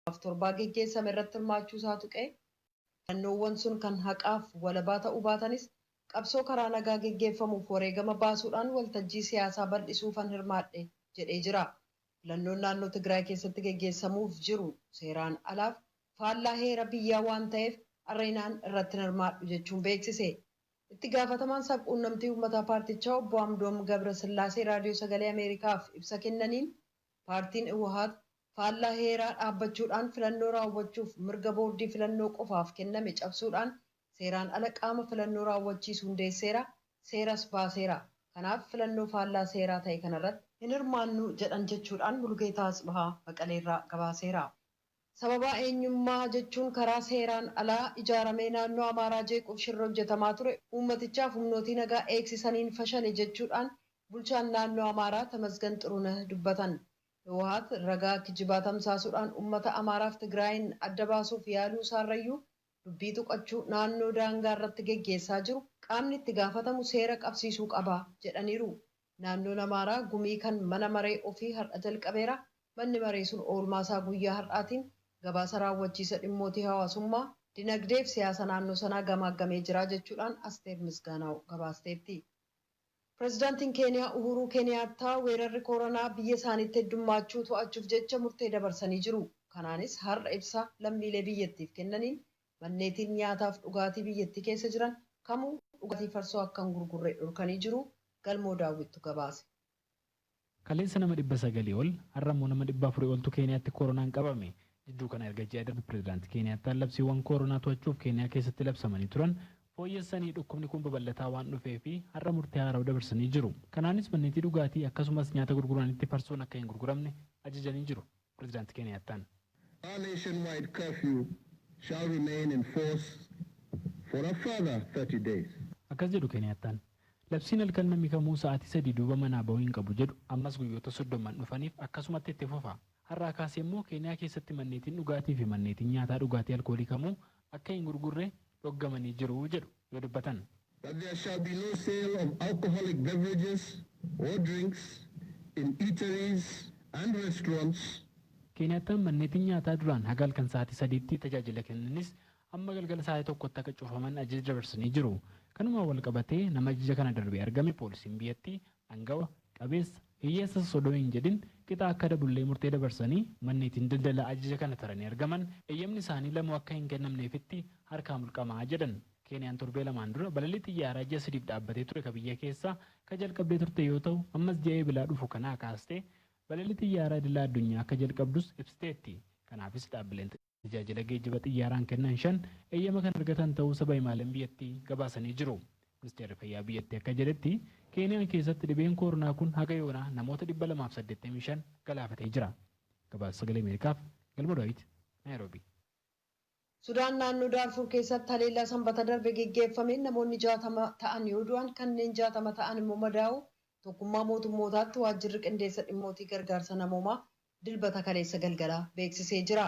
laaf torbaa geggeessame irratti hirmaachuu isaa tuqee, filannoowwan sun kan haqaaf walabaa ta'uu baatanis qabsoo karaa nagaa geggeeffamuuf wareegama baasuudhaan waltajjii siyaasaa bal'isuufan hirmaadhe jedhee jira. Filannoon naannoo Tigraay keessatti geggeessamuuf jiru seeraan alaaf faallaa heera biyyaa waan ta'eef Areenaan irratti hin hirmaadhu jechuun beeksise. Itti gaafatamaan sab-quunnamtii uummataa paartichaa Obbo Amdoom Gabrasillaasee Raadiyoo Sagalee Ameerikaaf ibsa kennaniin, paartiin Iwhaat faallaa heeraa dhaabbachuudhaan filannoo raawwachuuf mirga boordii filannoo qofaaf kenname cabsuudhaan seeraan ala qaama filannoo raawwachiisu hundeesseera, seeras baaseera. Kanaaf filannoo faallaa seeraa ta'e kanarratti. hin hirmaannu jedhan jechuudhaan Mulugeetaa Atsbahaa Maqaleerraa gabaaseera. Sababaa eenyummaa jechuun karaa seeraan alaa ijaaramee naannoo Amaaraa jeequuf shirri hojjetamaa ture uummatichaaf humnootii nagaa eegsisaniin fashale jechuudhaan bulchaan naannoo Amaaraa Tamasgan Xurunah dubbatan. Hiwaat ragaa kijibaa tamsaasuudhaan ummata Amaaraaf Tigraayiin adda baasuuf yaaluu isaarrayyuu dubbii tuqachuu naannoo daangaa irratti geggeessaa jiru qaamni itti gaafatamu seera qabsiisuu qaba jedhaniiru. Naannoon Amaaraa gumii kan mana maree ofii har'a jalqabeera. Manni maree sun oolmaa isaa guyyaa har'aatiin gabaasa raawwachiisa dhimmootii hawaasummaa, dinagdee fi siyaasa naannoo sanaa gamaaggamee jira jechuudhaan Asteer Misgaanaaw gabaasteetti. Pirezidaantiin Keeniyaa Uhuuruu Keeniyaattaa weerarri Kooranaa biyya isaaniitti heddummaachuu to'achuuf jecha murtee dabarsanii jiru. Kanaanis har'a ibsa lammiilee biyyattiif kennaniin manneetiin nyaataaf dhugaatii biyyattii keessa jiran kamuu dhugaatii farsoo akka hin gurgurre dhorkanii jiru Galmoo Daawwittu gabaase. Kaleessa nama 900 ol, har'a immoo nama 400 oltu Keeniyaatti Kooronaan qabame. Jidduu kana erga ji'a darbe Pirezidaanti Keeniyaattaan labsiiwwan Kooronaa to'achuuf Keeniyaa keessatti labsamanii turan fooyyessanii dhukkubni kun babal'ataa waan dhufeefi har'a murtee haarawa dabarsanii jiru. Kanaanis manneetii dhugaatii akkasumas nyaata gurguranitti farsoon akka hin gurguramne ajajanii jiru. Prezidaant Keeniyaattaan. Our nationwide curfew shall remain in force for a further thirty days. Akkas jedhu Keeniyaattaan. Labsiin halkan namni kamuu sa'aatii sadii duuba manaa bahuu hin qabu jedhu ammas guyyoota soddomman dhufaniif akkasumatti itti fufa. Har'aa kaasee immoo Keeniyaa keessatti manneetiin dhugaatii fi manneetiin nyaataa dhugaatii alkoolii kamuu akka hin gurgurre dhoggamanii jiru jedhu yoo dubbatan. That there shall be no sale of alcoholic beverages or drinks in eateries and restaurants. Keeniyattaan manneetiin nyaataa duraan haga halkan sa'aatii sadiitti tajaajila kennanis amma galgala sa'aatii tokkotti akka cufaman ajaja dabarsanii jiru. Kanumaan walqabatee nama ajaja kana darbee argame poolisiin biyyattii angawa, qabeessa, hiyyeessa sos odoo hin jedhin qixa akka adabullee murtee dabarsanii manneetiin daldala ajaja kana taranii argaman eyyamni isaanii lamuu akka hin kennamneefitti harkaa mulqama jedhan. Keeniyaan torbee lamaan dura balalii xiyyaaraa ji'a sadiif dhaabbatee ture ka biyya keessaa ka jalqabdee turte yoo ta'u, ammas ji'a Eebilaa dhufu kanaa kaastee balalii xiyyaaraa idila addunyaa akka jalqabdus ibsiteetti. Kanaafis dhaabbileen. tajaajila geejjiba xiyyaaraan kennan shan eeyyama kan argatan ta'uu saba himaaleen biyyattii gabaasanii jiru. Ministeerri Fayyaa biyyattii akka jedhetti, Keeniyaan keessatti dhibeen kooronaa kun haga yoonaa namoota 285 galaafatee jira. Gabaasa Sagalee Ameerikaaf Galmoo Daawit, Naayiroobii. Sudaan naannoo Daarfuur keessatti haleellaa Sanbata darbe geggeeffameen namoonni 60 ta'an yoo du'an kanneen 60 ta'an immoo madaa'uu Tokkummaa Mootummootaatti Waajjirri Qindeessa Dhimmootii Gargaarsa Namoomaa Dilbata kaleessa galgala beeksisee jira.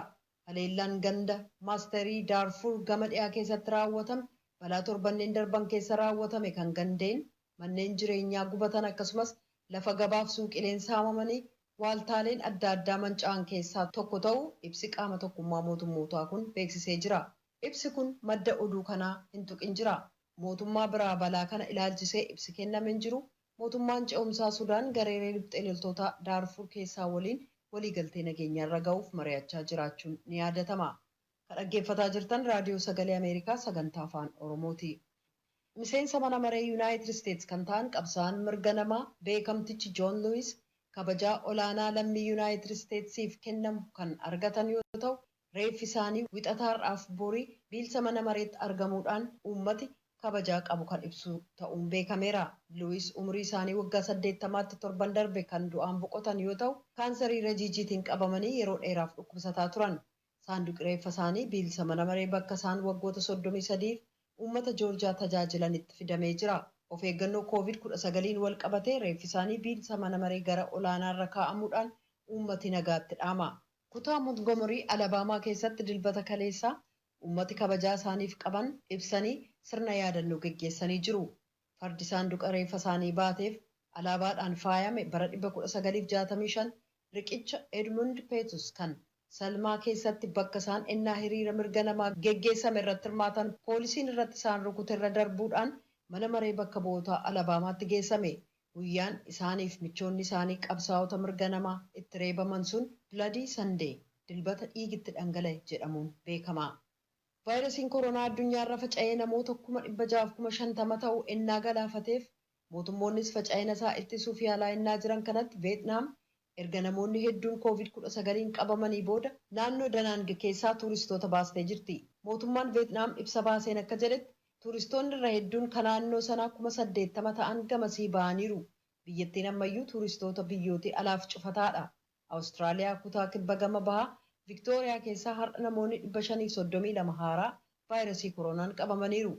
Haleellaan ganda Masterii Daarfuur gama dhiyaa keessatti raawwatame balaa torbanneen darban keessa raawwatame kan gandeen, manneen jireenyaa gubatan akkasumas lafa gabaaf suuqileen saamamanii waaltaaleen adda addaa manca'an keessaa tokko ta'uu ibsi qaama tokkummaa mootummootaa kun beeksisee jira. Ibsi kun madda oduu kanaa hin tuqin jira. Mootummaa biraa balaa kana ilaalchisee ibsi kenname hin jiru, Mootummaan Ce'umsaa Sudaan gareelee riphxee loltootaa Daarfuur keessaa waliin walii galtee nageenyaa irra ga'uuf mari'achaa jiraachuun ni yaadatama. Ka dhaggeeffataa jirtan Raadiyoo Sagalee Ameerikaa Sagantaa Afaan Oromooti. Miseensa Mana Maree Yunaayitid Isteets kan ta'an qabsaa'aan mirga namaa beekamtichi Joon Luwiis kabajaa olaanaa lammii Yunaayitid Isteetsiif kennamu kan argatan yoo ta'u, Reeffi isaanii Wixata har'aaf bori biilsa mana mareetti argamuudhaan uummati kabajaa qabu kan ibsu ta'uun beekameera. Luwis umurii isaanii waggaa 80tti torban darbe kan du'aan boqotan yoo ta'u, kaansarii rajiijiitiin qabamanii yeroo dheeraaf dhukkubsataa turan. Saanduqi reeffa isaanii biilsa mana maree bakka isaan waggoota 33f uummata Joorjiyaa tajaajilanitti fidamee jira. Of eeggannoo Koovid 19n walqabatee reeffi isaanii biilsa mana maree gara olaanaarra kaa'amuudhaan uummati nagaatti dhaama. Kutaa Montgomery, Alabama keessatti Dilbata kaleessaa uummati kabajaa isaaniif qaban ibsanii sirna yaadannoo geggeessanii jiru. Fardi saanduqa reeffa isaanii baateef alaabaadhaan faayame bara 1965 riqicha Edmund Pettus kan Selma keessatti bakka isaan ennaa hiriira mirga namaa geggeessame irratti hirmaatan poolisiin irratti isaan rukute irra darbuudhaan Mana Maree Bakka Bu'ootaa Alabaamaatti geessame. Guyyaan isaaniif michoonni isaanii qabsaa'ota mirga namaa itti reebaman sun Bloody Sunday, Dilbata Dhiigi Itti Dhangala'e, jedhamuun beekama. Vaayirasiin koronaa addunyaarra faca'ee namoota kuma dhibba ja'aaf kuma shantama ta'u ennaa galaafateef, mootummoonnis faca'ina isaa ittisuuf yaalaa ennaa jiran kanatti Veetnaam Erga namoonni hedduun Covid 19n qabamanii booda naannoo Da Nang keessaa tuuristoota baastee jirti. Mootummaan Veetnaam ibsa baaseen akka jedhetti, tuuristoonni irra hedduun ka naannoo sanaa 80,000 ta'an gamasii ba'aniiru. Biyyattiin ammayyuu tuuristoota biyyootii alaaf cufataadha. Awustiraaliyaa kutaa kibba gama bahaa Viktooriyaa keessaa har'a namoonni 532 haaraa vaayrasii koroonaan qabamaniiru.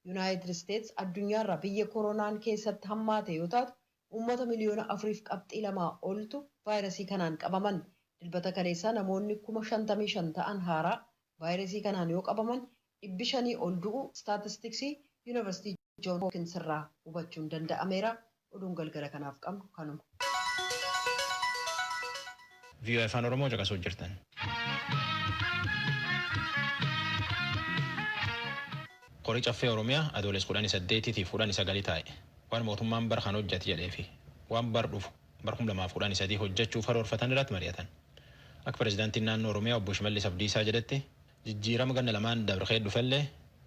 Yunaayitid Isteets addunyaarraa biyya koroonaan keessatti hammaate yoo taatu, uummata miliyoona 4.2 oltu vaayirasii kanaan qabaman. Dilbata kaleessaa namoonni kuma 55 ta'an haaraa vaayirasii kanaan yoo qabaman dhibbi shanii ol du'uu istaatistiksii Yuunivarsiitii Joon Hookins irraa hubachuun danda'ameera. Oduun galgala kanaaf qabnu kanuma. voa afaan oromoo caqasuu jirtan. Kori Caffee Oromiyaa Adooles 18 tiif 19 taa'e. waan mootummaan bara kana hojjate jedheefi waan bara dhufu bara kum lamaa fi kudhanii sadii hojjachuuf karoorfatan irratti mari'atan. Akka Pirezidaantiin Naannoo Oromiyaa Obbo Shimallis Abdiisaa jedhetti jijjiirama ganna lamaan dabre keessa dhufellee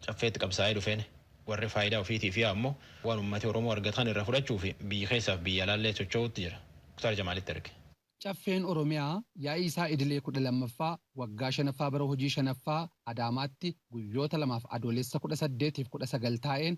Caffeetti qabsaa'ee dhufeen warri faayidaa ofiitiif yaa'u ammoo waan ummati Oromoo argate kana irraa fudhachuuf biyya keessaa fi biyya alaallee socho'uutti jira. Muktaar Jamaalitti erge. Caffeen Oromiyaa yaa'ii isaa idilee kudha lammaffaa waggaa shanaffaa bara hojii shanaffaa Adaamaatti guyyoota lamaaf Adoolessa kudha saddeet fi kudha sagal taa'een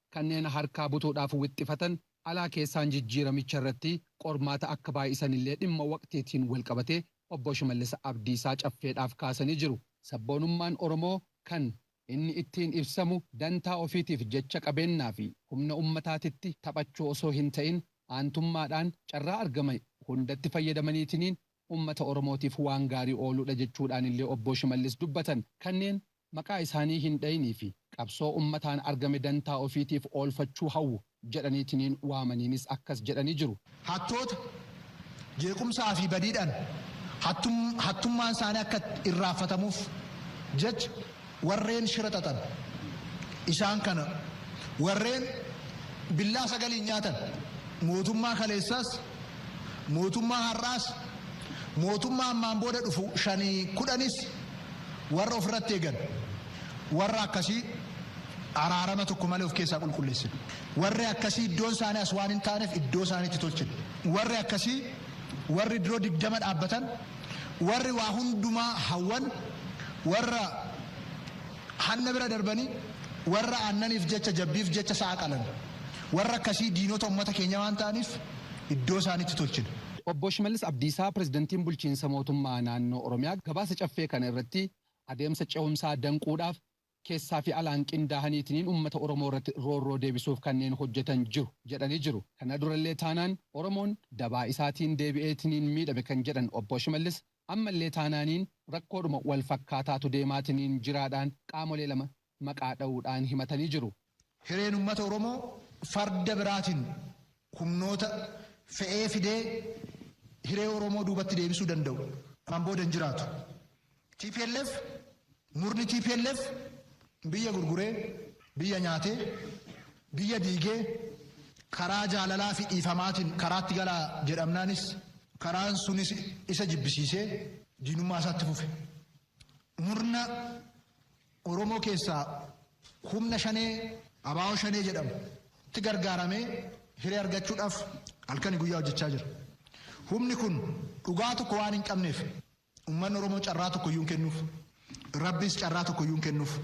Kanneen harkaa butuudhaaf wixxifatan alaa keessaan jijjiiramicha irratti qormaata akka baay'isan illee dhimma waqtiitiin walqabatee Obbo Shimallis Abdiisaa Caffeedhaaf kaasanii jiru. Sabboonummaan Oromoo kan Inni ittiin ibsamu dantaa ofiitiif jecha qabeennaa fi humna ummataatitti taphachuu osoo hin ta'in aantummaadhaan carraa argamae hundatti fayyadamaniitiniin ummata Oromootiif waan gaarii ooluudha jechuudhaan illee Obbo Shimallis dubbatan. Kanneen Maqaa isaanii hin dhayinii fi qabsoo ummataan argame dantaa ofiitiif oolfachuu hawwu jedhaniitiniin waamaniinis akkas jedhanii jiru. Hattoota, jeequmsaa fi badiidhaan hattummaan isaanii akka irraanfatamuuf jecha warreen shira xaxan isaan kana, warreen billaa sagaliin nyaatan mootummaa kaleessaas, Mootummaa har'aas, mootummaa ammaan booda dhufu shanii kudhanis warra ofirratti eegan warra akkasii araarama tokko malee of keessaa qulqulleessina. Warri akkasii iddoon isaanii as waan hin taaneef iddoo isaaniitti tolchina. Warri akkasii warri diroo digdama dhaabbatan, warri waa hundumaa hawwan, warra. Hanna bira darbanii warra aannaniif jecha jabbiif jecha sa'a qalan. Warra akkasii diinota ummata keenyaa waan ta'aniif iddoo isaaniitti tolchina. Obbo Shimallis Abdiisaa Pirezidantiin Bulchiinsa Mootummaa Naannoo Oromiyaa gabaasa Caffee kana irratti adeemsa cehumsaa danquudhaaf keessaa fi alaan qindaahaniitiniin ummata Oromoo irratti roorroo deebisuuf kanneen hojjetan jiru jedhanii jiru. Kana durallee taanaan Oromoon dabaa isaatiin deebi'eetiniin miidhame kan jedhan Obbo Shimallis, Ammallee taanaaniin rakkoodhuma wal fakkaataatu deemaatiniin jiraadhaan qaamolee lama maqaa dhawuudhaan himatanii jiru. Hireen ummata Oromoo farda biraatiin humnoota fe'ee fidee hiree Oromoo duubatti deebisuu danda'u ammaan booda hin jiraatu. Tplf Murni tplf biyya gurguree, biyya nyaatee, biyya diigee karaa jaalalaa fi dhiifamaatiin karaatti galaa jedhamnaanis karaan sunis isa jibbisiisee diinummaa isaa itti fufe. Murna Oromoo keessaa humna shanee abaawoo shanee jedhamu tti gargaaramee hiree argachuudhaaf halkanii guyyaa hojjechaa jira. Humni kun dhugaa tokko waan hin qabneef Ummanni Oromoo carraa tokkoyyuu hin kennuuf. Rabbiis carraa tokkoyyuu hin kennuuf.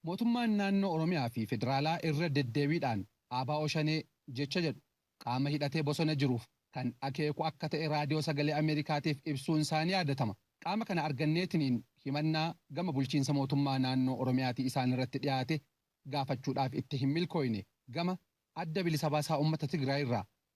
Mootummaan Naannoo Oromiyaa fi Federaalaa irra deddeebiidhaan ABO Shanee jecha jedhu qaama hidhatee bosona jiruuf kan akeeku akka ta'e Raadiyoo Sagalee Ameerikaatiif ibsuun isaa ni yaadatama. Qaama kana arganneetiniin himannaa gama bulchiinsa mootummaa naannoo Oromiyaatii isaan irratti dhiyaate gaafachuudhaaf itti hin milkooyne. Gama Adda Bilisa Baasaa Ummata Tigraay irraa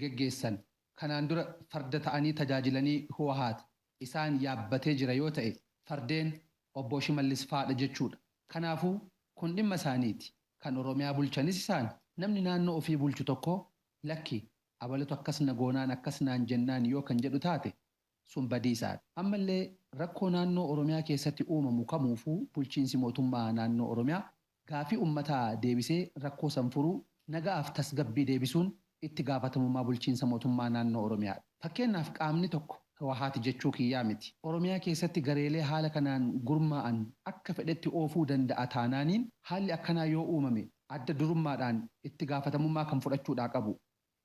geggeessan kanaan dura farda ta'anii tajaajilanii Huwahaat isaan yaabbatee jira yoo ta'e fardeen Obboo Shimallis faadha jechuudha. Kanaafuu kun dhimma isaaniiti. Kan Oromiyaa bulchanis isaani. Namni naannoo ofii bulchu tokko lakki abalutu akkas na goonaan akkas naan jennaan yoo kan jedhu taate sun badiisaadha. Ammallee rakkoo naannoo Oromiyaa keessatti uumamu kamuufuu bulchiinsi mootummaa naannoo Oromiyaa Gaaffii ummataa deebisee rakkoo san furuu, naga'aaf tasgabbii deebisuun itti gaafatamummaa bulchiinsa mootummaa naannoo Oromiyaadha. Fakkeennaaf qaamni tokko Hiwahaati jechuu kiyyaa miti. Oromiyaa keessatti gareelee haala kanaan gurmaa'an akka fedhetti oofuu danda'a taanaaniin haalli akkanaa yoo uumame adda durummaadhaan itti gaafatamummaa kan fudhachuudhaa qabu.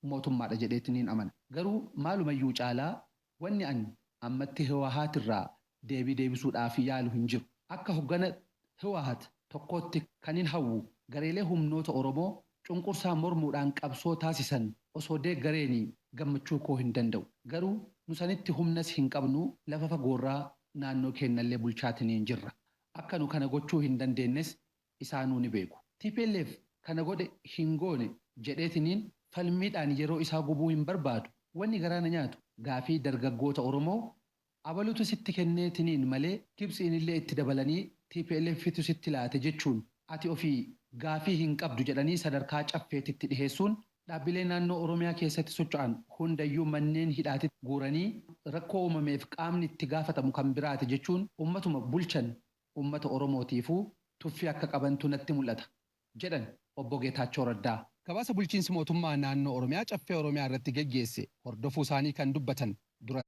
mootummaadha jedheetti niin amana. Garuu maalumayyuu caalaa wanni an ammatti Hiwahaat irraa deebii deebisuudhaaf yaalu hin jiru. Akka hoggana Hiwahaat tokkootti kanin hawwu gareelee humnoota Oromoo cunqursaa mormuudhaan qabsoo taasisan osoo deeggareenii gammachuu koo hin danda'u. Garuu nu sanitti humnas hin qabnu lafa fagoorraa naannoo keennallee bulchaatiniin jirra. Akka nu kana gochuu hin dandeennes isaanuu ni beeku. Tplf kana godhe hin goone jedheetiniin falmiidhaan yeroo isaa gubuu hin barbaadu. Wanni garaa na nyaatu gaafii dargaggoota Oromoo abalutu sitti kenneetiniin malee Gibtsiinillee itti dabalanii TPLFtu sitti laate jechuun ati ofii gaafii hin qabdu jedhanii sadarkaa Caffeetitti dhiheessuun dhaabbilee naannoo Oromiyaa keessatti socho'an hundayyuu manneen hidhaatitti guuranii rakkoo uumameef qaamni itti gaafatamu kan biraati jechuun ummatuma bulchan uummata Oromootiifuu tuffii akka qabantu natti mul'ata, jedhan Obbo Geetaachoo Raddaa. Gabaasa Bulchiinsi Mootummaa Naannoo Oromiyaa Caffee Oromiyaa irratti geggeesse hordofuu isaanii kan dubbatan Dura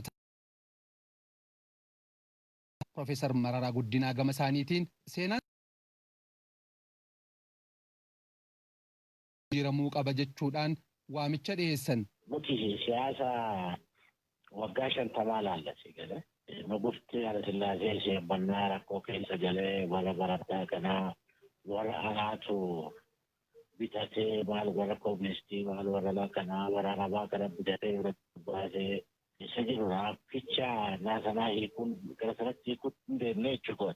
Taa'aan Pirofeesar Mararaa Guddinaa gama isaaniitiin, seenaan. jijjiiramuu qaba jechuudhaan waamicha dhiheessan. Nuti siyaasa waggaa shantamaa ilaalla sii galee. Nugufti Hayilasillaasee sheebbannaa rakkoo keessa galee warra baradhaa kanaa warra alaatu bitatee maal warra koministii maal warra laa kanaa warra arabaa kana bitatee irratti baasee isa jiru raabbicha naa sanaa hiikuun gara sanatti hiikuun hin deemnee jechuudha.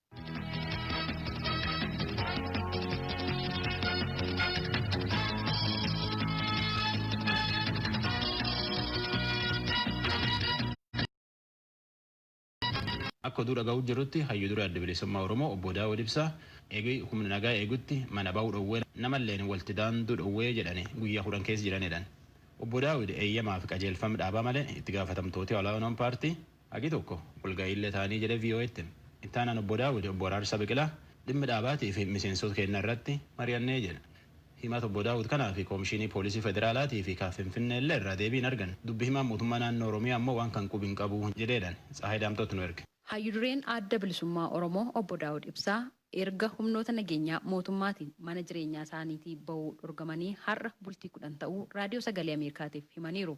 Akka oduu dhagahu jirrutti hayyu dure Adda Bilisummaa Oromoo obbo Daawud Ibsaa eegi humni nagaa eegutti mana bahu dhowwee namalleen walti daandu dhowwee jedhani guyyaa kudhan keessa jiran jedhan. Obbo Daawud eeyyamaafi qajeelfam dhaabaa malee itti gaafatamtooti olaanoon paartii Hagi tokko walga'iillee taanee jedhe VOAtti hime. Itti aanaan Obbo Daawud, Obbo Araarsaa Biqilaa dhimmi dhaabaatii fi miseensoota keennaa irratti mari'annee jedhe. Himata Obbo Daawud kanaa fi Koomishiinii Poolisii Federaalaatii fi ka Finfinneellee irraa deebii hin arganne. Dubbi himaan Mootummaa Naannoo Oromiyaa ammoo waan kan qubi hin qabu jedheedhan. Tsahaay Daamxootu nu erge. Hayyu dureen Adda Bilisummaa Oromoo Obbo Daawud Ibsaa erga humnoota nageenyaa mootummaatiin mana jireenyaa isaaniitii ba'uu dhorgamanii har'a bultii 10 ta'uu Raadiyoo Sagalee Ameerikaatiif himaniiru.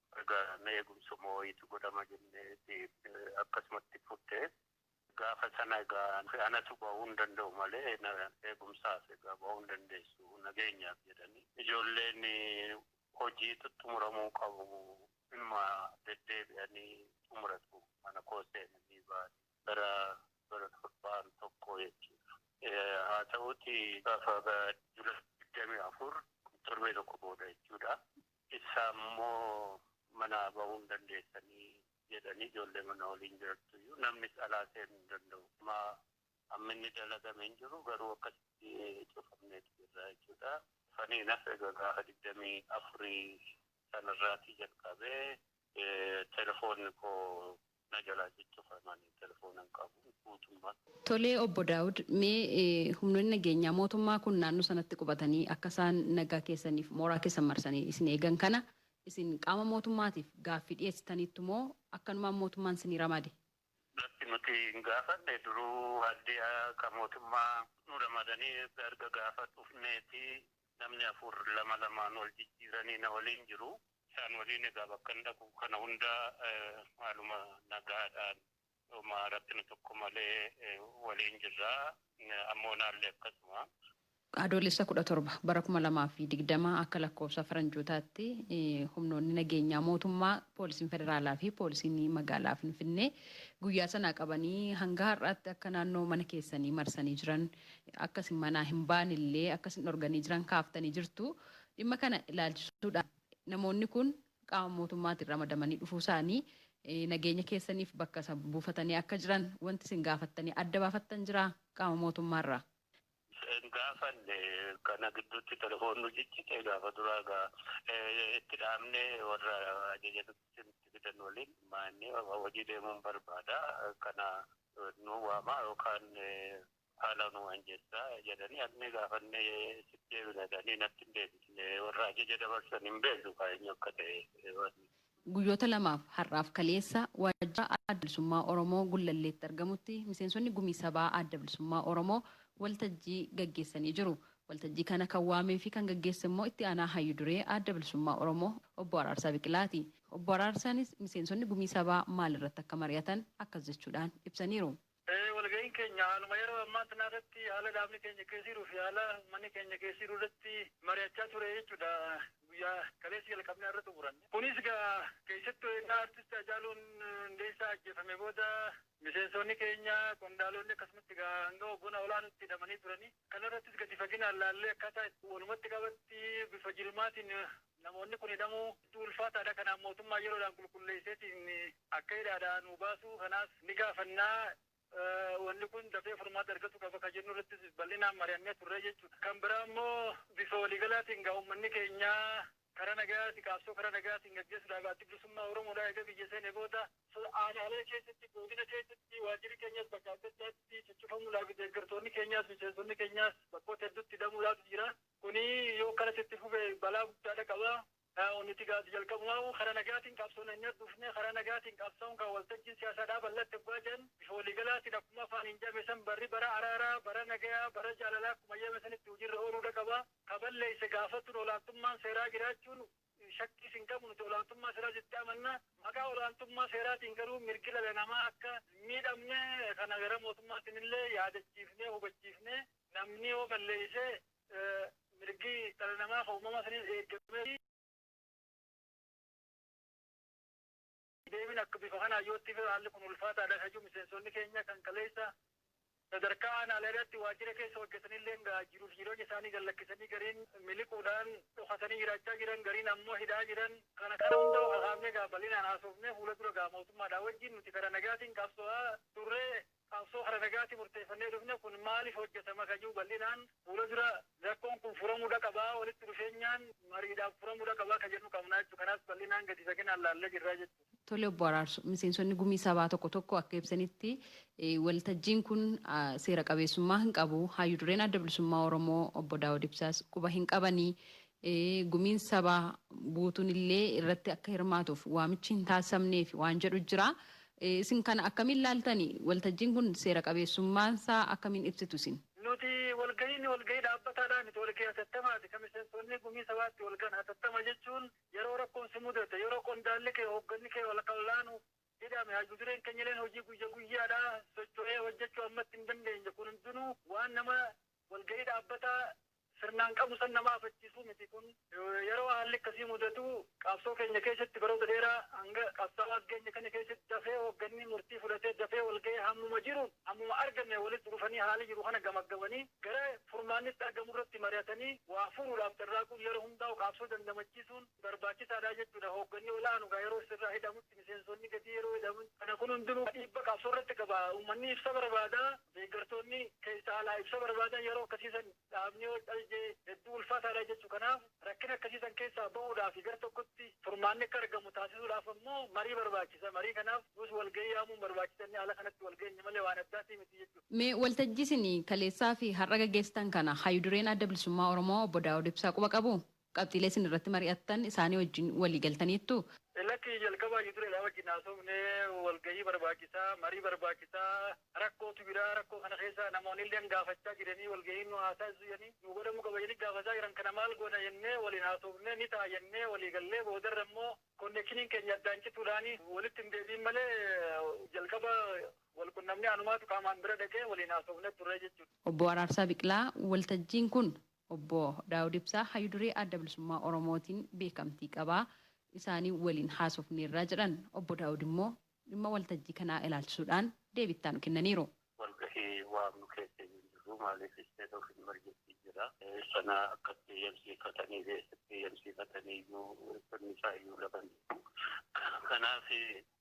Egaa mee eegumsa immoo wayiitu godhama jenneeti akkasumatti fudhe. Gaafa sana egaa anatu bahuun danda'u malee eegumsaaf egaa bahuu hin dandeessu nageenyaaf jedhanii. Ijoolleen hojiitu xumuramuu qabu inuma deddeebi'anii xumuratu mana koo seenanii ba'anii. Bara bara torbaan tokkoo jechuudha. Haa ta'uutii gaafa July 24 torbee tokko booda jechuudha. Isaan immoo manaa bahuu hin dandeessanii jedhanii ijoollee mana waliin jirattu iyyuu namnis alaa seenu hin danda'u. Amma hamminni dalagame hin jiru garuu akkasitti cufamneeti jirra jechuudha. Sanii hin hafe egaa gaafa digdamii afurii sana irraatii jalqabee telefoonni koo na jalaa ciccuf ani telefoona hin qabu guutummat. Tolee obbo Daawud mee humnoonni nageenyaa mootummaa kun naannoo sanatti qubatanii akka isaan nagaa keessaniif mooraa keessan marsanii isin eegan kana isin qaama mootummaatiif gaaffii dhiyeessitaniittu moo akkanumaan mootummaan isinii ramade? Lakki nuti hin gaafanne duruu haldiyaa ka mootummaa nu ramadanii erga gaafa dhufneeti namni afur lama lamaan wal jijjiiranii na waliin jiru Isaan waliin egaa bakkan dhaqu kana hunda haaluma nagaadhaan homaa rakkina tokko malee waliin jirra. Ammoonaallee akkasuma. Adoolessa 17 bara 2020 akka lakkoofsa Faranjootaatti humnoonni nageenyaa mootummaa, Poolisiin Federaalaa fi Poolisiin Magaalaa Finfinnee guyyaa sanaa qabanii hanga har'aatti akka naannoo mana keessanii marsanii jiran, akka isin manaa hin baanellee akka isin dhorganii jiran kaaftanii jirtu. Dhimma kana ilaalchisuudhaan namoonni kun qaama mootummaatiin ramadamanii dhufuusaanii, nageenya keessaniif bakka isa buufatanii akka jiran wanti isin gaafattanii adda baafattan jiraa qaama mootummaarraa? Hin gaafanne. Kana gidduutti telefoon nu ciccite. Gaafa duraa egaa itti dhaamnee warra ajaja nutti fidan waliin mari'annee hojii deemuun barbaada. Kana nuu waamaa yookaan Haala nuu anjessaa jedhanii adhne gaafanne sitti deebina jedhanii natti hin deebisne warra ajaja dabarsan hin beeknu kaa eenyu akka ta'e wanni. Guyyoota lamaaf har'aaf kaleessa waajjira Adda Bilisummaa Oromoo Gullalleetti argamutti miseensonni Gumii Sabaa Adda Bilisummaa Oromoo waltajjii gaggeessanii jiru. Waltajjii kana kan waamee fi kan gaggeesse immoo Itti Aanaa Hayyu Duree Adda Bilisummaa Oromoo Obbo Araarsaa Biqilaati. Obbo Araarsaanis miseensonni Gumii Sabaa maal irratti akka mari'atan akkas jechuudhaan ibsaniiru. Ee walga'iin keenya haaluma yeroo ammaa tanaa irratti haala dhaabni keenya keessa jiruu fi haala ummanni keenya keessa jiru irratti mari'achaa ture jechuudha. Guyyaa kaleessa jalqabnee har'a xumuranne. Kunis egaa keessattuu egaa artisti Hacaaluun Hundeessaa ajjeefame booda miseensoonni keenya, qondaaloonni akkasumatti egaa hanga hoggana olaanootti hidhamanii turanii. Kana irrattis gadi faginaan laallee akkaataa itti walumatti qabatti bifa jirmaatiin Namoonni kun hidhamuu hedduu ulfaataadha. Kanaaf mootummaan yeroodhaan qulqulleesseetiin akka hidhaadhaa nuu baasu kanaas ni gaafanna. Wanni kun dafee furmaata argatu qaba kan jennu irrattis bal'inaan mari'annee turree jechuudha. Kan biraa immoo bifa waliigalaatiin egaa uummanni keenya karaa nagayaatiin qabsoo karaa nagayaatiin gaggeessuudhaaf Addi Bilisummaa Oromoodhaa eega biyya seenee booda, aanaalee keessatti, godina keessatti waajjirri keenyas bakka adda addaatti cuccufamuudhaafi deeggartoonni keenyaas miseensonni keenyaas bakkoota hedduutti hidhamuudhaaf jira. Kuni yoo akkanatti itti fufe balaa guddaadha qaba. Nuti egaa jalqabumaahuu karaa nagaatiin qabsoon hanyaa dhufne, karaa nagaatiin qabsaa'uun kaa waltajjiin siyaasaa dhaabal'atti oggaa jedhan bifa waliigalaatiin akkuma afaaniin jedhame san barri bara araaraa, bara nagayaa, bara jaalalaa akkuma jedhame sanitti hujirra ooluudha qaba. Ka balleesse gaafachuun olaantummaan seeraa jiraachuun Shakkiis hin qabnu nuti olaantummaa seeraa jettee amanna. Maqaa olaantummaa seeraatiin garuu mirgi dhala namaa akka hin miidhamne kana gara mootummaatiin illee yaadachiifnee hubachiifne. Namni yoo balleesse mirgi dhala namaa kan uumamaa saniis eegamee fi. Deebiin akka bifa kanaan yoo itti fufe haalli kun ulfaataadha kan jedhu miseensonni keenya kan kaleessa sadarkaa aanaaleerratti waajjira keessa hojjetanilleen egaa jiruuf jireenya isaanii gad lakkisanii gariin miliquudhaan dhokatanii jiraachaa jiran, gariin ammoo hidhaa jiran. Kana kana hunda kakaafnee egaa bal'inaan haasofnee fuula dura egaa mootummaadhaa wajjin nuti karaa nagaatiin qabsoo'aa turre qabsoo kara nagaati murteeffannee dhufne kun maaliif hojjatama kan jedhu bal'inaan fuula dura rakkoon kun furamuudha qabaa walitti dhufeenyaan mariidhaan furamuudha qabaa kan jennu qabnaa jechuudha. Kanaas bal'inaan gadi fageenaan laallee jirraa jechuudha. Tole Obbo Araarsu, miseensonni gumii sabaa tokko tokko akka ibsanitti waltajjiin kun seera qabeessummaa hin qabu, haayyu dureen Adda Bilisummaa Oromoo Obbo Daawud Ibsaas quba hin qabanii Gumiin Sabaa guutuun illee irratti akka hirmaatuuf waamichi hin taasifamneefi waan jedhu jira. Isin kana akkamiin ilaaltani? Waltajjiin kun seera qabeessummaan isaa akkamiin ibsitu isin? Nuti walgahiin walgahii dhaabbataadhaa miti, walgahii hatattamaati. Kan miseensonni Gumii Sabaa itti walgahan hatattama jechuun yeroo rakkoon si mudate, yeroo qondaalli kee, hoogganni kee walakkaa olaanu hidhame, hayyu dureen keenya illeen hojii guyya guyyaadhaa socho'ee hojjechuu ammatti hin dandeenye, kun hundinuu waan nama Walga'ii dhaabbataa sirnaan qabnu san nama afachiisuu miti. Kun yeroo haalli akkasii mudatu qabsoo keenya keessatti baroota dheeraa hanga qabsaawaa as geenye kana keessatti dafee hoogganni murtii fudhatee dafee walga'ee hammuma jiruun hammuma argame walitti dhufanii haala jiru kana gamaggamanii gara furmaanni itti argamu irratti mari'atanii waa furuudhaaf carraaquun yeroo hundaa'u qaabsoo dandamachiisuun barbaachisaadha jechuudha. Hoogganni ol'aanu egaa yeroo sirraa hidhamutti miseensonni gadii yeroo hidhaman kana kun hundinuu dhiibba qaabsoo irratti qaba. Uummanni ibsa barbaada. Deeggartoonni keessa alaa ibsa barbaadan yeroo akkasii san dhaabni OHLJ hedduu ulfaataadha jechu. Kanaaf rakkina akkasii san keessaa bahuudhaafi gar tokkotti furmaanni akka argamu taasisuudhaaf ammoo marii barbaachisa. Marii kanaaf nus walgahii yaamuun barbaachisa jennee haala kanatti walgeenye malee waan addaatii miti jechu. Mee waltajjii isin kaleessaafi har'a gaggeessitan kana Hayyu Dureen Adda Bilisummaa Oromoo Obbo Daawud Ibsaa quba qabuu? Qabxiilee isin irratti mari'attan isaanii wajjin walii galtaniittuu? Lakki, jalqaba hayyu dureedhaa wajjin haasofnee walgahii barbaachisaa, marii barbaachisaa, rakkootu jira, rakkoo kana keessa namoonilleen gaafachaa jiranii walgahiin nu haa taasisu jedhanii nuu godhamuu qaba jedhanii gaafataa jiran kana maal goona jennee waliin haasoofnee ni ta'a jennee walii gallee boodarra immoo konnekshiniin keenya addaan cituudhaan walitti hin deebi'in malee jalqaba wal qunnamnee anumaatu qaamaan bira dhaqee waliin haasoofnee turree jechuudha. Obbo Araarsaa Biqilaa, Waltajjiin kun Obbo Daawud Ibsaa Hayyu Duree Adda Bilisummaa Oromootiin beekamtii qaba. Isaanii waliin haasofneerra jedhan. Obbo Daawud immoo dhimma waltajjii kanaa ilaalchisuudhaan deebii itti aanu kennaniiru. Walgahii waamnu keessa iyyuu hin jirru. Maaliif state of emergency jira. Sana akka itti eyyamsiifatanii fi eessatti eyyamsiifatanii iyyuu sirni isaa iyyuu lafa hin jiru. Kanaaf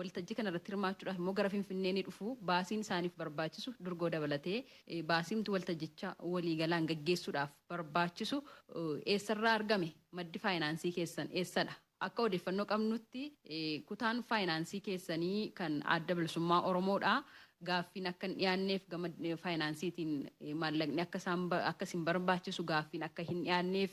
Waltajjii kana irratti hirmaachuudhaaf immoo gara Finfinnee ni dhufu. Baasiin isaaniif barbaachisu durgoo dabalatee baasiimti waltajjicha waliigalaan gaggeessuudhaaf barbaachisu eessarraa argame? Maddi faayinaansii keessan eessadha? Akka odeeffannoo qabnutti kutaan faayinaansii keessanii kan Adda Bilisummaa Oromoodha. Gaaffiin akka hin dhiyaanneef gama faayinaansiitiin maallaqni akka isin barbaachisu gaaffiin akka hin dhiyaanneef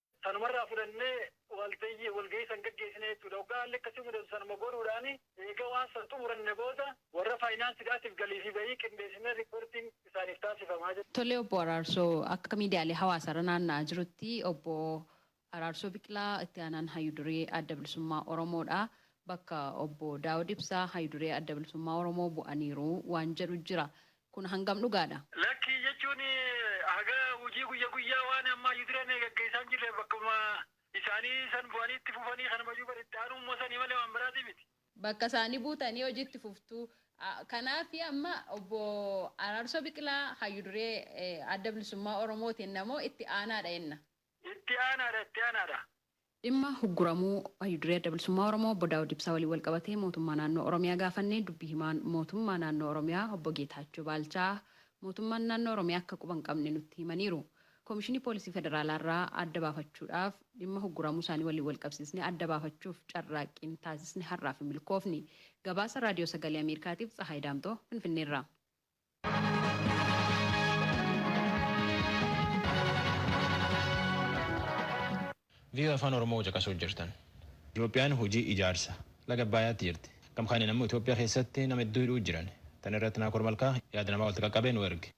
Sanuma irraa fudhannee waltayyi walgahii san gaggeessine jechuudha. Hoggaa haalli akkasii mudatu sanuma godhuudhaani. Eega waan san xumuranne booda warra faayinaansidhaatiif galii fi bahii qindeessinee riippoortiin isaaniif taasifama jechuudha. Tole Obbo Araarsoo, akka miidiyaalee hawaasaarra naanna'aa jirutti Obbo Araarsoo Biqilaa itti aanaan hayyu duree Adda Bilisummaa Oromoodha. Bakka Obbo Daawud Ibsaa hayyu duree Adda Bilisummaa Oromoo bu'aniiru waan jedhu jira. Kun hangam dhugaadha? Lakkii jechuun haga hujii guyya guyyaa waan ammaa yudirane gaggeessaan jirreef bakkuma isaanii san bu'anii itti fufanii kanumayuu bar itti aanuu mo sanii malee waan biraatii miti. Bakka isaanii buutanii hojii itti fuftuu. Kanaafi amma obbo Araarsoo Biqilaa hayyu duree Adda Bilisummaa Oromoo ti enna moo itti aanaadha enna? Itti aanaadha itti aanaadha. Dhimma hugguramuu Hayyu Duree Adda Bilisummaa Oromoo Obbo Daawud Ibsaa waliin walqabatee Mootummaa Naannoo Oromiyaa gaafannee Dubbi Himaan Mootummaa Naannoo Oromiyaa Obbo Geetaachoo Baalchaa Mootummaan Naannoo Oromiyaa akka quba hin qabne nutti himaniiru. Koomishinii Poolisii Federaalaa irraa adda baafachuudhaaf dhimma hugguramuu isaanii waliin walqabsiisnee adda baafachuuf carraaqqiin taasisne har'aaf hin milkoofni. Gabaasa Raadiyoo Sagalee Ameerikaatiif Tsahaay Daamxoo Finfinneerraa. VOA Afaan Oromoo caqasuu jirtan. Itoophiyaan hojii ijaarsa laga Abbaayaatti jirti. Gam kaaniin ammoo Itoophiyaa keessatti nama hedduu hidhuu jiran. Tan irratti Naakoor Malkaa yaada namaa walitti qaqqabee nu erge.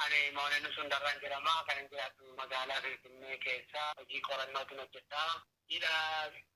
Ani Moonee Nusuun Darraan jedhama. Kanan jiraadhu magaalaa Finfinnee keessa hojii qorannootiin hojjedha. Hidha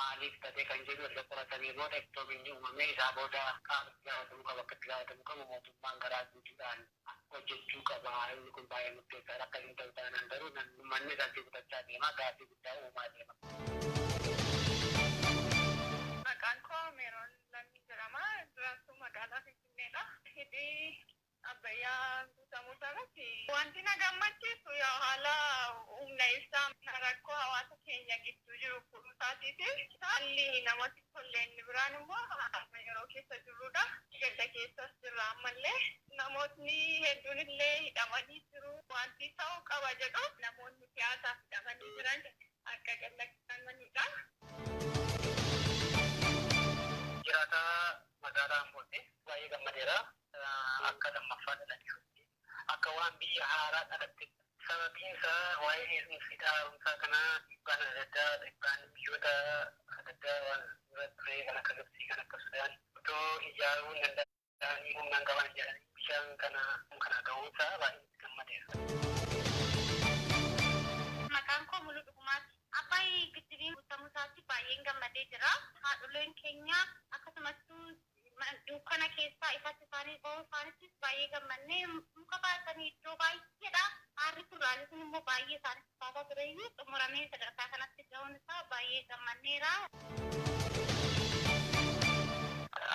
maaliif tate kan jedhu erga qoratanii booda ittoo binni uumamee isaa booda qaama itti gaafatamu qabu akka itti gaafatamu qabu mootummaan garaa guutuudhaan hojjechuu qaba inni kun baay'ee murteessaadha akkas hin ta'u taanaan garuu namni ummanni irratti kutachaa deema gaaffii guddaa uumaa deema. Maqaan koo Meeroon Lammii jedhama. Jiraattuu magaalaa Finfinneedha. Hidhi Abbayyaa guutamuu isaarratti wanti na gammachiisu yaa haala humna ibsaa rakkoo hawaasa keenya gidduu jiru furuu isaatiifi haalli namatti tolle inni biraan immoo amma yeroo keessa jirruudha. Gadda keessas jirra ammallee. Namootni hedduun illee hidhamanii jiru. Wanti ta'uu qaba jedhu namoonni siyaasaaf hidhamanii jiran akka gad lakkifamaniidha. Jiraataa magaalaa Ambootti. Baay'ee gammadeera. akka lammaffaa dhalachuutti, akka waan biyya haaraa dhalattetti. Sababiin isaa waa'een heerumsa hidha haaromsaa kanaa dhiibbaan adda addaa, dhiibbaan biyyoota adda addaa waan dura turee kan akka Gibtsii, kan akka Sudaan otoo ijaaruu hin danda'anii humna hin qaban jedhanii bishaan kana kana ga'uun isaa baay'ee itti gammadeera. Maqaan koo Muluu Dhugumaati. Abbaay Giddibiin guuttamuusaatti baay'een gammadee jira. Haadholeen keenya akkasumattuu dukkana keessaa ifatti isaanii ba'uu isaanittis baay'ee gammanne. Muka baatanii iddoo baay'eedhaa aarri kun raaji kun immoo baay'ee isaanitti baataa ture iyyuu xumuramee sadarkaa kanatti ga'uun isaa baay'ee gammanneera.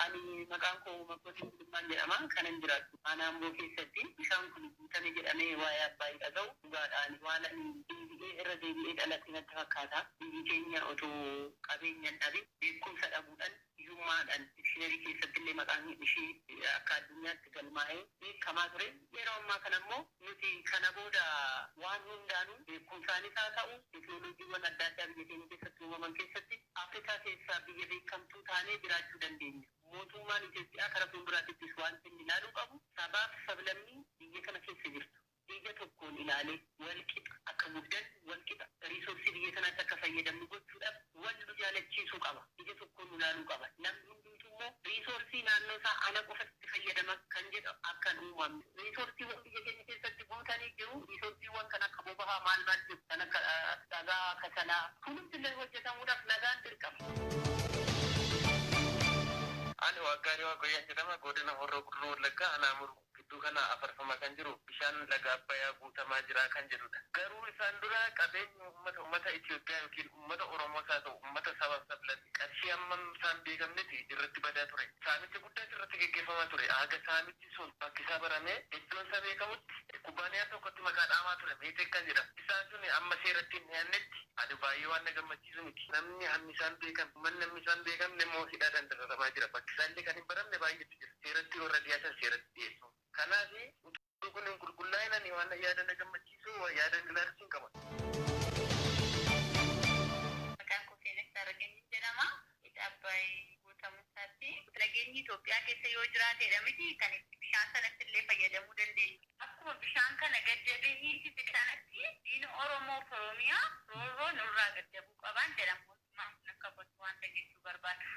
Ani maqaan koo Makkotiin Gulummaan jedhama. Kanan jiraadhu Aanaa Amboo keessatti. Bishaan kun guutame jedhamee waa'ee Abbaayii dhaga'u dhugaadha. Ani waan ani deebi'ee irra deebi'ee dhaladhe natti fakkaata. Biyyi keenya otoo qabeenya hin dhabin beekumsa dhabuudhan Hiyyummaadhaan dikshiinarii keessatti illee maqaan ishii akka addunyaatti galmaa'ee beekamaa ture. Yeroo ammaa kana immoo nuti kana booda waan hundaanuu beekumsaanis haa ta'u teeknooloojiiwwan adda addaa biyya keenya keessatti uumaman keessatti Afrikaa keessaa biyya beekamtuu taanee jiraachuu dandeenya. Mootummaan Itoophiyaa kara fuulduraatittis waanti inni ilaaluu qabu sabaaf sablammii biyya kana keessa jirtu ija tokkoon ilaalee wal qixa akka guddannu, wal qixa riisoorsii biyya kanaatti akka fayyadamnu gochuudhaaf wal nu jaalachiisuu qaba. Ija tokkoon nu laaluu qaba. Namni hundumtuu immoo riisoorsii naannoo isaa ana qofatu itti fayyadama kan jedhu akka hin uumamne. Riisoorsiiwwan biyya keenya keessatti guutanii jiru. Riisoorsiiwwan kan akka bobahaa maal maal jiru. Kan akka dhagaa, kasalaa. Kunumti illee hojjetamuudhaaf nagaan dirqama. Ani Waaqgaariiwaaq Wayyaan jedhama. Godina Horroo Guduruu Wallaggaa Aanaa Muruu. Gidduu kana afarfamaa kan jiru bishaan laga Abbayaa guutamaa jira kan jedhudha. Garuu isaan dura qabeenyi uummata uummata Itiyoophiyaa ykn uummata Oromoos haa ta'u uummata sabaaf sablammii qarshii hammam isaa hin beekamnetti irratti badaa ture. Saamicha guddaas irratti geggeeffamaa ture. Haga saamichi sun bakkisaa baramee iddoon isaa beekamutti kubbaaniyaan tokkotti maqaa dhaamaa ture Meeteek kan jedhamu. Isaan sun amma seeratti hin dhiyaannetti ani baay'ee waan na gammachiisu miti. Namni hammi isaa hin beekamne, uummanni hammi isaa hin beekamne immoo hidhaadhaan dararamaa jira. Bakki isaa illee kan hin baramne baay'eetu jira. seeratti warra dhiyaatan seeratti dhiyeessu. Kanaaf utuu kun hin qulqullaa'in ani waan yaada na gammachiisu yaada hin ilaalchin qaba. Maqaan koo Feenesh Taarraqanyiin jedhama. Hidha Abbaay guutamuu isaatti nageenyi Itoophiyaa keessa yoo jiraateedha miti kan itti bishaan sanatti illee fayyadamuu dandeenyu. Akkuma bishaan kana gad jabee hiisise kanatti diina Oromoo fi Oromiyaa roorroo nurraa gad jabuu qabaan jedha mootummaan kun akka kottu waanta jechuu barbaadu.